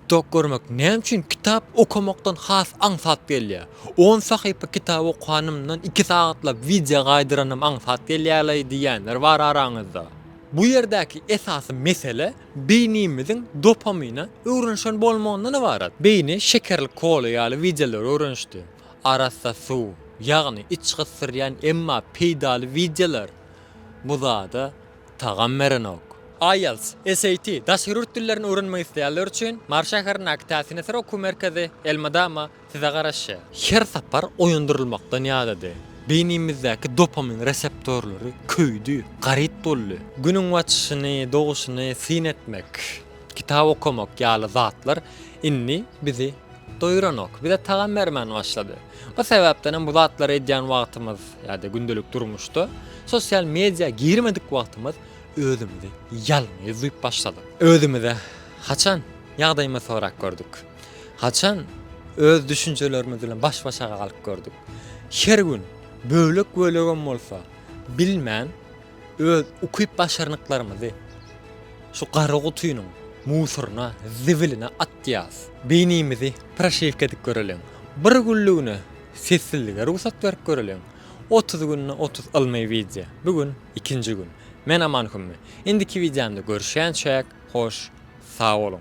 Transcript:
TikTok görmek näme üçin kitap okamakdan has aňsat gelýär? On sahypa kitap okanymdan iki sagatlap wideo gaýdyranym aňsat gelýärlaý diýýänler bar araňyzda. Bu ýerdäki esasy mesele beýnimiziň dopamine öwrenişen bolmagyndan ybarat. Beýni şekerli kola ýaly wideolara öwrenişdi. Arassa suw, ýagny iç gysdyrýan emma peýdaly wideolar bu zada Tagam berenok. IELTS, SAT, daşary ýurt dillerini öwrenmek isleýänler üçin Mary şäherindäki Täsinäsir okuw merkezi elmydama size garaşýar. Her sapar oýandyrylmakdan ýadady. Beýnimizdäki dopamin reseptorlary köýdi, garyp boldy. Günüň batyşyny, doguşyny syn etmek, kitap okamak ýaly zatlar indi bizi Doýuranok, bize tagam bermän başlady. O sebäpdenem bu zatlary edýän wagtymyz ýa-da gündelik durmuşda sosial media girmedik wagtymyz özümizi ýalňyz duýup başladyk. Özümize haçan ýagdaýymyzy sorap gördük? Haçan öz düşünjelerimiz bilen baş-başa galyp gördük? Her gün bölek-bölegem bolsa bilmän Öz ukyp-başarnyklarymyzy şu gara gutynyň musoryna, zibiline atýas. Beýnimizi proşewka edip göreliň. Bir günlügine sessizlige rugsat berip göreliň. Otuz günde otuz ylmy wideo. Bu gün ikinji gün. Men Aman Hümmi. Indiki wideomda görüşýänçäk, hoş sag boluň.